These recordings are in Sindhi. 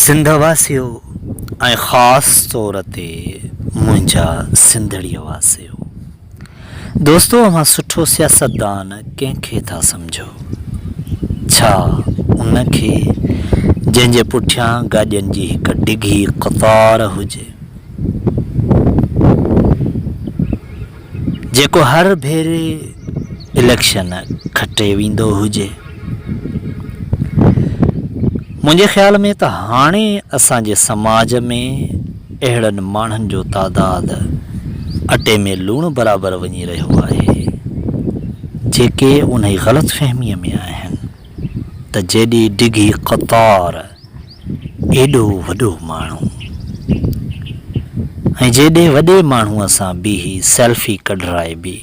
سنڌ واسيو ۽ خاص طور تي منهنجا سنڌڙي واسيو دوستو اوهان سٺو سياستدان ڪنهن کي ٿا سمجهو ڇا ان کي جنهن جي پٺيان گاڏين جي هڪ ڊگهي قطار هجي جيڪو هر ڀيري اليڪشن کٽي ويندو هجي. منهنجي خيال ۾ ته هاڻي اسان جي سماج ۾ اهڙن ماڻهن جو تعداد اٽي ۾ لوڻ برابر وڃي رهيو آهي، جيڪي انهي غلط فهميء ۾ آهن ته جيڏي ڊگهي قطار ايڏو وڏو ماڻهو ۽ جيڏي وڏي ماڻهوء سان بيهي سيلفي ڪڍرائبي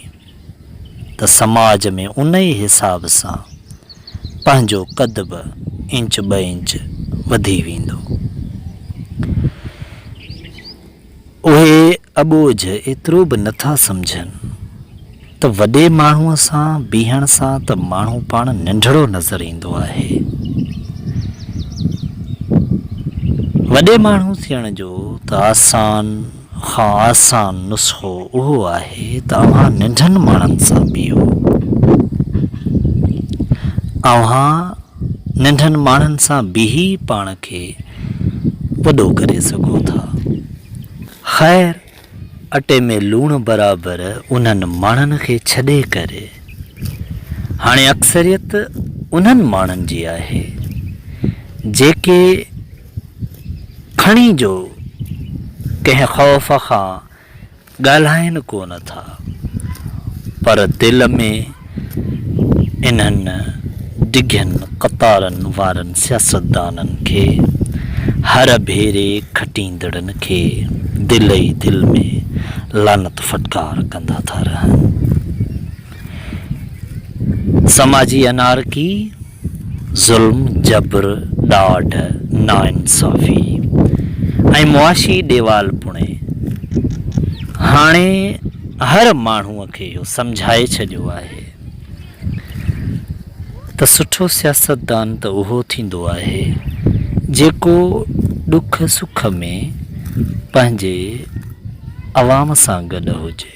ته سماج ۾ انهي حساب سان پنهنجو قد به انچ ٻه انچ وڌي ويندو. اهي اٻوجهه ايترو به نه ٿا سمجهن ته وڏي ماڻهوء سان بيهڻ سان ته ماڻهو پاڻ ننڍڙو نظر ايندو آهي. وڏي ماڻهو ٿيڻ جو ته آسان کان آسان نسخو اهو آهي ته اوهان ننڍن ماڻهن سان بيهو. اوهان ننڍن ماڻهن سان بيهي پاڻ کي وڏو ڪري سگهو ٿا. خير اٽي ۾ لوڻ برابر انهن ماڻهن کي ڇڏي ڪري هاڻي اڪثريت انهن ماڻهن جي آهي جيڪي کڻي جو ڪنهن خوف کان ڳالهائين ڪو نه ٿا پر دل ۾ انهن ڊگهين قطارن وارن سياستدانن کي هر ڀيري کٽيندڙن کي دل ئي دل ۾ لعنت ڦٽڪار ڪندا ٿا رهن. سماجي انارڪي، ظلم، جبر، ڏاڍ، ناانصافي ۽ معاشي ڏيوالپڻي هاڻي هر ماڻهوء کي اهو سمجهائي ڇڏيو آهي ته سٺو سياستدان ته اهو ٿيندو آهي جيڪو ڏک سک ۾ پنهنجي عوام سان گڏ هجي.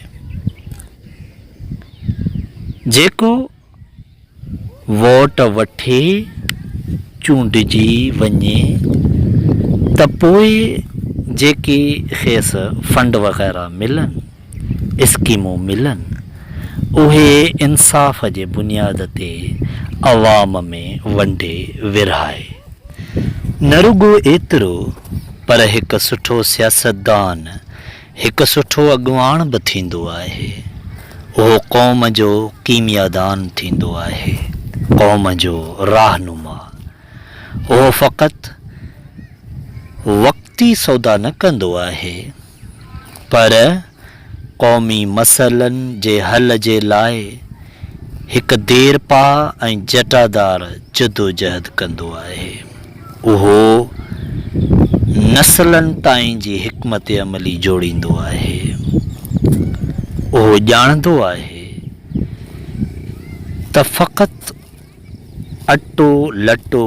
جيڪو ووٽ وٺي چونڊجي وڃي ته پوء جيڪي کيس فنڊ وغيره ملن اسڪيمون ملن اهي انصاف جي بنياد تي عوام ۾ ونڊي ورهائي نه رڳو ايترو پر هڪ سٺو سياستدان هڪ سٺو اڳواڻ به ٿيندو آهي، اهو قوم جو ڪيميادان ٿيندو آهي، قوم جو راهنما. اهو فقط وقتي سودا نه ڪندو آهي، پر قومي مسئلن جي حل جي لاء هڪ ديرپا ۽ جٽادار جدوجهد ڪندو آهي. اهو نسلن تائين جي حڪمت عملي جوڙيندو آهي. اهو ڄاڻندو آهي ته فقط اٽو لٽو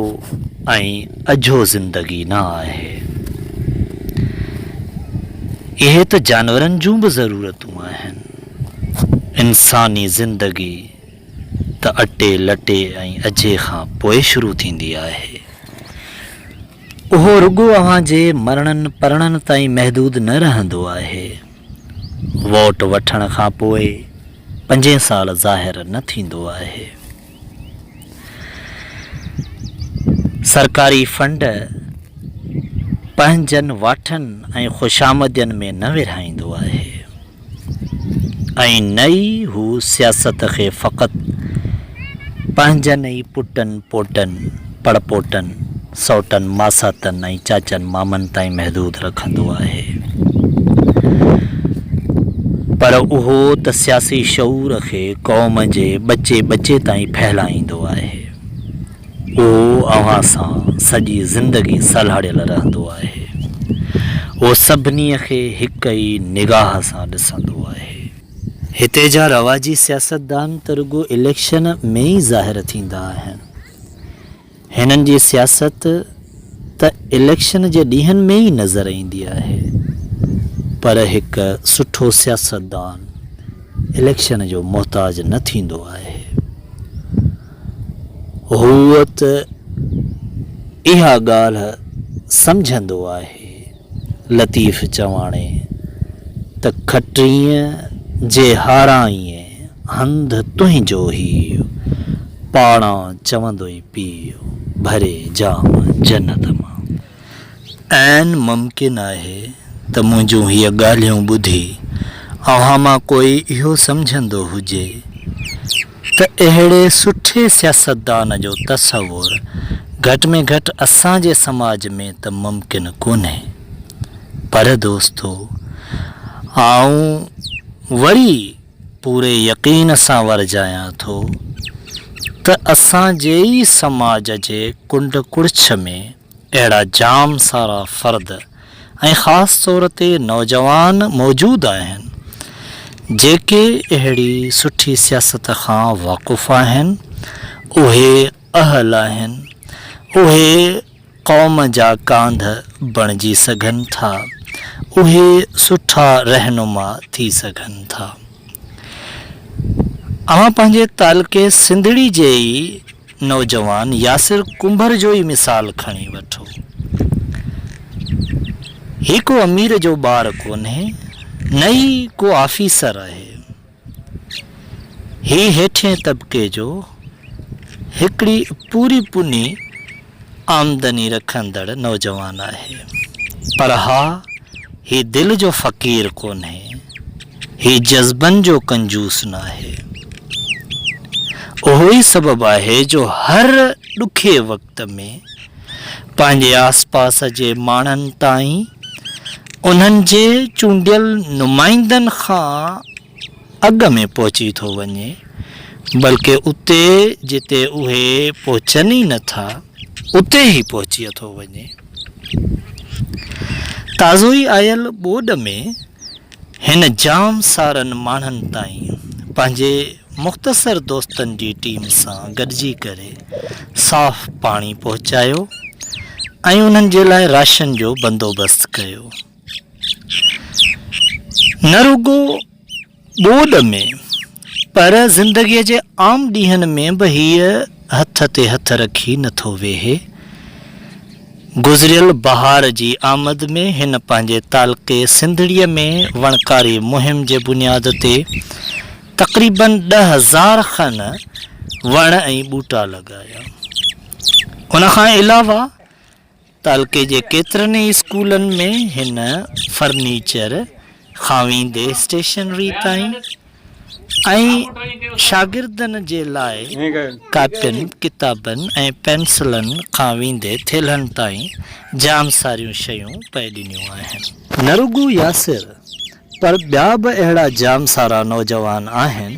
۽ اجهو زندگي نه آهي. اهي ته جانورن جون به ضرورتون آهن. انساني زندگي. ته اٽي، لٽي ۽ اجهي کان پوء شروع ٿيندي آهي. اهو رڳو اوهان جي مرڻن پرڻن تائين محدود نه رهندو آهي. ووٽ وٺڻ کان پوء پنجين سال ظاهر نه ٿيندو آهي. سرڪاري فنڊ پنهنجن واٺن ۽ خوشامدين ۾ نه ورهائيندو آهي. ۽ نه ئي هو سياست کي فقط پنهنجن ئي پٽن پوٽن، پڙپوٽن، سئوٽن ماساتن ۽ چاچن مامن تائين محدود رکندو آهي، پر اهو ته سياسي شعور کي قوم جي ٻچي ٻچي تائين ڦهلائيندو آهي. هو اوهان سان سڄي زندگي سلهاڙيل رهندو آهي. هو سڀني کي هڪ ئي نگاهه سان ڏسندو آهي. هتي جا رواجي سياستدان ته رڳو اليڪشن ۾ ئي ظاهر ٿيندا آهن. هنن جي سياست ته اليڪشن جي ڏينهن ۾ ئي نظر ايندي آهي. پر هڪ سٺو سياستدان اليڪشن جو محتاج نه ٿيندو آهي. هو ته اها ڳالهه سمجهندو آهي. لطيف چواڻي ته کٽرينء جي هارائين هنڌ تنهنجو هيء، پاڙان چوندوئي پيء، ڀري جام جنت مان. عين ممڪن آهي ته منهنجون هيء ڳالهيون ٻڌي اوهان مان ڪوئي اهو سمجهندو هجي ته اهڙي سٺي سياستدان جو تصور گهٽ ۾ گهٽ اسان جي سماج ۾ ته ممڪن ڪونهي. پر دوستو آئون وري پوري يقين سان ورجايان ٿو ته اسان جي ئي سماج جي ڪنڊ ڪڙڇ ۾ اهڙا جام سارا فرد ۽ خاص طور تي نوجوان موجود آهن جيڪي اهڙي سٺي سياست کان واقف آهن اهي اهل آهن اهي قوم جا ڪانڌ بڻجي سگهن ٿا، اهي سٺا رهنما ٿي سگهن ٿا. اوهان پنهنجي تعلقي سنڌڙي جي ئي نوجوان ياسر ڪنڀر جو ئي مثال کڻي وٺو. هي ڪو امير جو ٻار ڪونهي، نه ئي ڪو آفيسر آهي. هي هيٺين طبقي جو هڪڙي پوري پني آمدني رکندڙ نوجوان آهي. پر ها هي دل جو فقير ڪونهي. هي جذبن جو ڪنجوس ناهي. اهو ئي سبب آهي جو هر ڏکي وقت ۾ پنهنجي آس پاس جي ماڻهن تائين انهن جي چونڊيل نمائندن کان اڳ ۾ پهچي ٿو وڃي بلڪ اتي جتي اهي پهچن ئي نه ٿا اتي ئي پهچي ٿو وڃي. تازو ئي آيل ٻوڏ ۾ هن جام سارن ماڻهن تائين پنهنجي مختصر دوستن جي ٽيم سان گڏجي ڪري صاف پاڻي پهچايو ۽ انهن جي لاء راشن جو بندوبست ڪيو. نه رڳو ٻوڏ ۾. پر زندگيء جي عام ڏينهن ۾ به هيء هٿ تي هٿ رکي نه ٿو ويهي. گذريل بهار جي آمد ۾ هن پنهنجي تعلقي سنڌڙيء ۾ وڻڪاري مهم جي بنياد تي تقريباً ڏهه هزار کن وڻ ۽ ٻوٽا لڳايا. ان کان علاوه، تعلقي جي ڪيترن ئي اسڪولن ۾ هن فرنيچر کان ويندي اسٽيشنري تائين ۽ شاگردن جي لاء ڪاپين، ڪتابن ۽ پينسلن کان ويندي ٿيلهن تائين جام ساريون شيون پئي ڏنيون آهن. نه رڳو ياسر پر ٻيا به اهڙا جام سارا نوجوان آهن،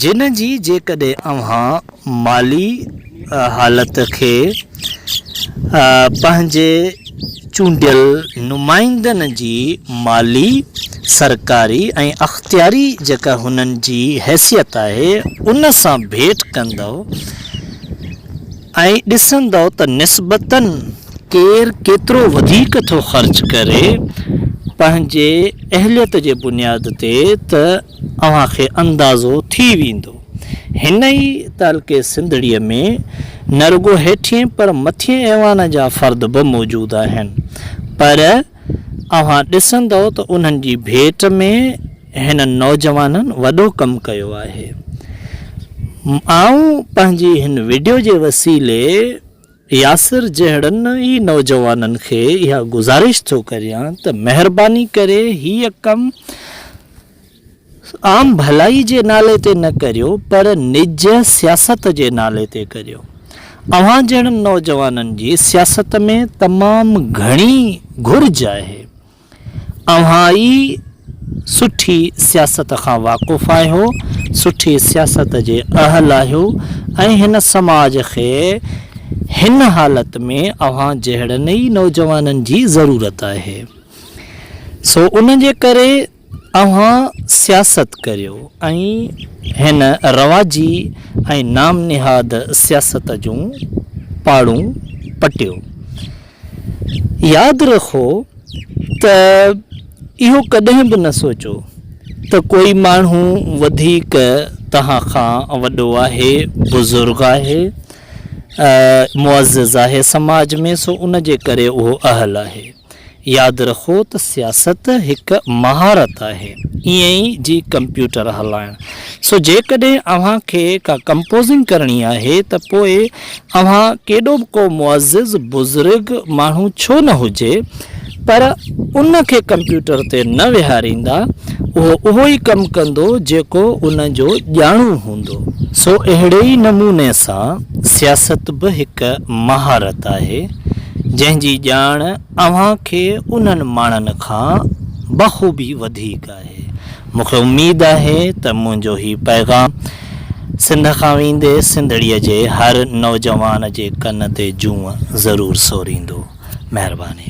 جن جي جيڪڏهن اوهان مالي حالت کي پنهنجي چونڊيل نمائندن جي مالي، سرڪاري ۽ اختياري جيڪا هنن جي حيثيت آهي، ان سان ڀيٽ ڪندؤ ۽ ڏسندؤ ته نسبتاً ڪير ڪيترو وڌيڪ ٿو خرچ ڪري پنهنجي اهليت جي بنياد تي ته اوهان کي اندازو ٿي ويندو. هن ئي تعلقي سنڌڙي ۾ نه رڳو هيٺين پر مٿين ايوان جا فرد به موجود آهن پر اوهان ڏسندؤ ته انهن جي ڀيٽ ۾ هنن نوجوانن وڏو ڪم ڪيو آهي. آئون پنهنجي هن وڊيو جي وسيلي ياسر جهڙن ئي نوجوانن کي اها گذارش ٿو ڪريان ته مهرباني ڪري هيء ڪم عام ڀلائي جي نالي تي نه ڪريو پر نج سياست جي نالي تي ڪريو. اوهان جهڙن نوجوانن جي سياست ۾ تمام گهڻي گهرج آهي. اوهان ئي سٺي سياست کان واقف آهيو، سٺي سياست جي اهل آهيو ۽ هن سماج کي هن حالت ۾ اوهان جهڙن ئي نوجوانن جي ضرورت آهي. سو ان جي ڪري اوهان سياست ڪريو ۽ هن رواجي ۽ نام نهاد سياست جون پاڙون پٽيو. ياد رکو ته اهو ڪڏهن به نه سوچو ته ڪوئي ماڻهو وڌيڪ توهان کان وڏو آهي، بزرگ آهي، معزز آهي سماج ۾ سو ان جي ڪري اهو اهل آهي. ياد رکو ته سياست هڪ مهارت آهي ائين ئي جي ڪمپيوٽر هلائڻ. سو جيڪڏهن اوهان کي ڪا ڪمپوزنگ ڪرڻي آهي ته پوء اوهان ڪيڏو به ڪو معزز، بزرگ، ماڻهو ڇو نه هجي پر ان کي ڪمپيوٽر تي نه ويهاريندا، اهو اهو ئي ڪم ڪندو جيڪو ان جو ڄاڻو هوندو. سو اهڙي ئي نموني سان سياست به هڪ مهارت آهي جنهن جي ڄاڻ اوهان کي انهن ماڻهن کان بخوبي وڌيڪ مونکي اميد آهي ته منهنجو هي پيغام سنڌ کان ويندي سنڌڙي جي هر نوجوان جي ڪن تي جونء ضرور سوريندو. مهرباني.